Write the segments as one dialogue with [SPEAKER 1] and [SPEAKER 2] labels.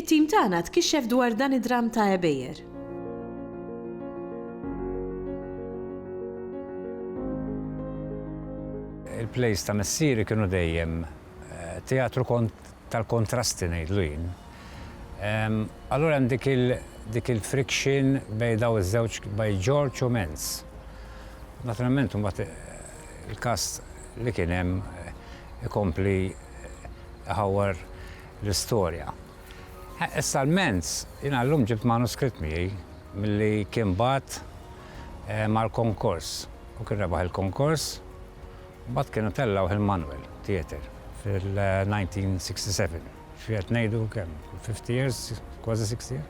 [SPEAKER 1] It-tim tagħna tkixxef dwar dan id-dramm ta' għebejjer.
[SPEAKER 2] Il-plays ta' missieri kienu dejjem teatru tal-kontrasti ngħidlu jien. Allura hemm dik il-friction bejn dawn iż-żewġ bejn George u Mens. Naturalment imbagħad il-cast li kien hemm ikompli iħawwar. l-istorja. Issa l-mens, jiena llum ġibt manuskritt miegħi milli kien bagħat mal-konkors. Hu kien rebaħ il-konkors, mbagħad kienu tellgħuh il-Manuel Theatre fil-1967. Xi qed ngħidu kemm? Fifty years, kważi sixty years.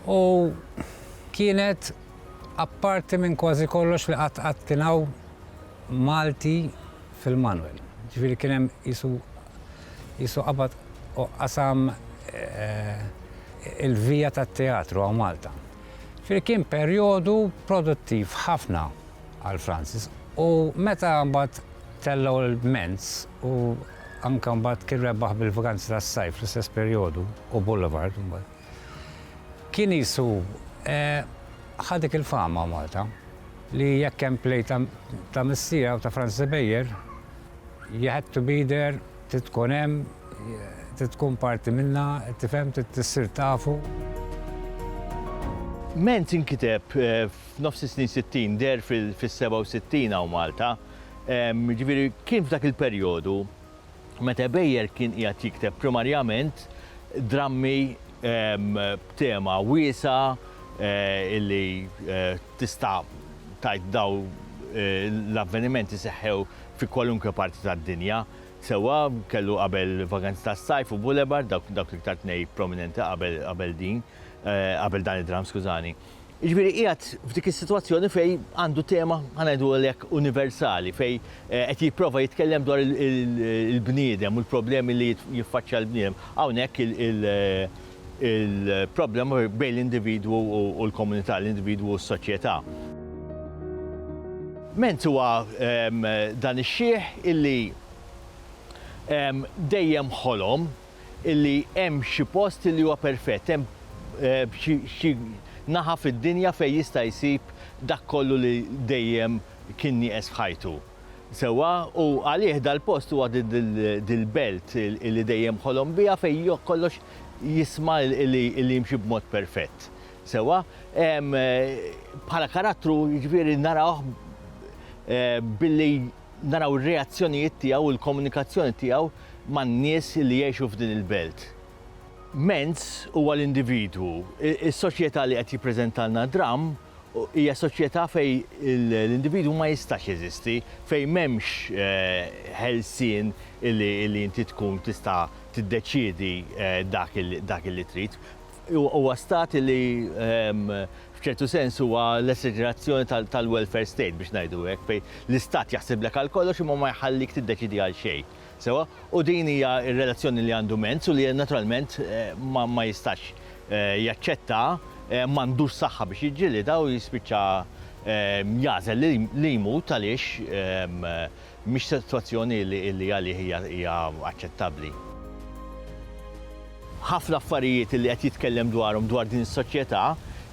[SPEAKER 2] U kienet apparti minn kważi kollox li qatt qatt kien hawn Malti fil-manwel. Ġifieri kien hemm qisu qisu qabad u qasam il-vija tat-teatru hawn Malta. Ġifieri kien perjodu produttiv ħafna għal Francis u meta mbagħad tellgħu l-Ments u anke mbagħad kien rebaħ bil-Vaganzi tas-Sajf fl-istess perjodu u Boulevard mbagħad. Kien qisu ħa dik il-fama Malta li jekk hemm play ta' Missija u ta' Franz Cybeier, you had to be there, trid tkun hemm, trid tkun parti minnha, tifhem, trid issir tafu.
[SPEAKER 3] Menz inkiteb f'nofs is-snin sittin, deher fis-67 hawn Malta, jiġifieri kien f'dak il-perjodu. meta Ebejer kien qiegħed jikteb primarjament drammi b'tema wiesgħa li tista' tgħid dawn l-avvenimenti seħħew fi kwalunkwe parti tad-dinja. Sewwa kellu qabel Vaganzi tas-Sajf u Boulevard, dawk l-iktar tnej prominenti qabel din, qabel dan id-dramm, skużani. Jiġifieri qiegħed f'dik is-sitwazzjoni fejn għandu tema, ħa ngħidu hekk, universali, fejn qed jipprova jitkellem dwar il-bniedem u l-problemi li jiffaċċja l-bniedem. Hawnhekk il-problema bejn l-individwu u l-komunità, l-individwu u s-soċjetà. Ment huwa dan ix-xiħ illi dejjem ħolom illi hemm xi post illi huwa perfett, hemm xi naħa fid-dinja fejn jista' jsib dak kollu li dejjem kien nieqes f'ħajtu. Sewwa? U għalih dal-post huwa dil-belt illi dejjem ħolom biha fejn kollox jisma' illi jimxi b'mod perfett. Sewwa? Bħala karattru, jiġifieri narawh billi naraw ir-reazzjonijiet tiegħu u l-komunikazzjoni tiegħu man-nies li jgħixu f'din il-belt. Menz huwa l-individwu. Is-soċjetà li qed jippreżentalna Dramm hija soċjetà fejn l-individwu ma jistax jeżisti, fejn m'hemmx eh, ħelsien li inti tkun tista' tiddeċiedi eh, dak li trid. Huwa stat li f'ċertu sens huwa l-esaġerazzjoni tal-welfare state, biex ngħidu hekk, fejn l-istat jaħsiblek għal kollox imma ma jħallik tiddeċiedi għal xejn. Sewwa? U din hija r-relazzjoni li għandu Mentz u li naturalment ma jistax jaċċettaha, m'għandux saħħa biex jiġġilidha u jispiċċa jagħżel li jmut għaliex Mhix sitwazzjoni li għalih hija aċċettabbli. Ħafna affarijiet li qed jitkellem dwarhom dwar din is-soċjetà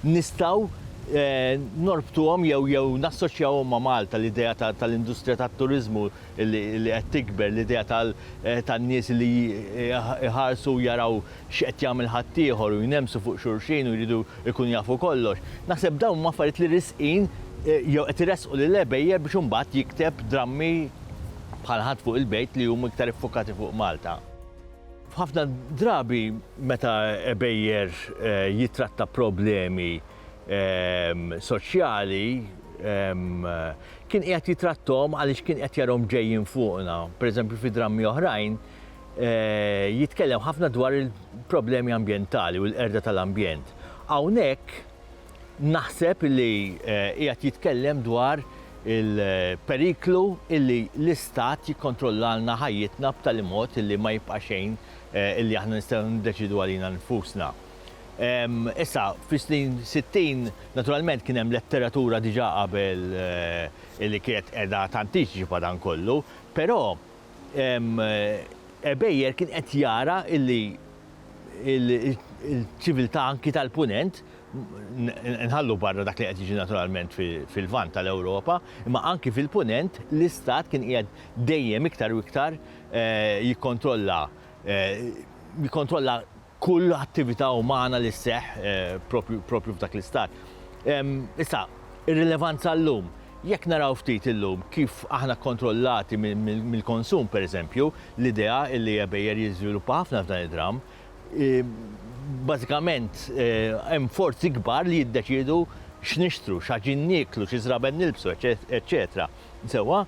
[SPEAKER 3] nistgħu norbtuhom jew nassoċjawhom ma' Malta, l-idea tal-industrija tat-turiżmu li qed tikber, l-idea tan-nies li jħarsu u jaraw x'qed jagħmel ħaddieħor u jnemmsu fuq xulxin u jridu jkunu jafu kollox. Naħseb dawn huma affarijiet li risqin jew qed iressqu lill-għebejjer biex imbagħad jikteb drammi bħal Ħadd fuq il-Bejt li huma iktar iffukati fuq Malta. F'ħafna drabi meta għebejjer jittratta problemi soċjali kien qiegħed jitratthom għaliex kien qed jarahom ġejjin fuqna. Pereżempju fi drammi oħrajn jitkellem ħafna dwar il-problemi ambjentali u l-qerda tal-ambjent. Hawnhekk naħseb li qiegħed jitkellem dwar il-periklu illi l-Istat jikkontrollalna ħajjitna b'tali mod illi ma jibqa' xejn illi aħna nistgħu niddeċiedu għalina nfusna. Issa, fis-snin 60, naturalment kien hemm letteratura diġà qabel illi kienet qiegħda tanticipa dan kollu, però Ebejer kien qed jara illi l-ċiviltà anki tal-Punent, nħallu barra dak li qed jiġi naturalment fil-Lvant tal-Ewropa, imma anki fil-Punent l-istat kien qiegħed dejjem iktar u iktar jikkontrolla jikkontrolla kull attività umana li sseħħ proprju proprju f'dak l-istat. Issa, ir-rilevanza llum, jekk naraw ftit illum kif aħna kkontrollati mill-konsum, pereżempju, l-idea li għebejjer jiżviluppa ħafna f'dan id-dramm, bażikament hemm forzi kbar li jiddeċiedu x'nixtru, x'ħaġin nieklu, xi żraben nilbsu, eċċetera. Sewwa,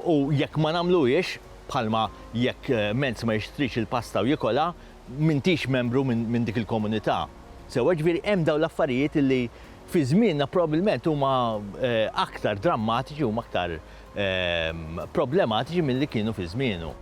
[SPEAKER 3] u jekk ma nagħmluhiex, bħalma jekk mezz ma jixtrix il-pasta u jikolha, m'intix membru minn dik il-komunità. Sewwa, jiġifieri hemm dawn l-affarijiet li fi żmienna probbilment huma aktar drammatiċi, huma aktar problematiċi milli kienu fi żmienu.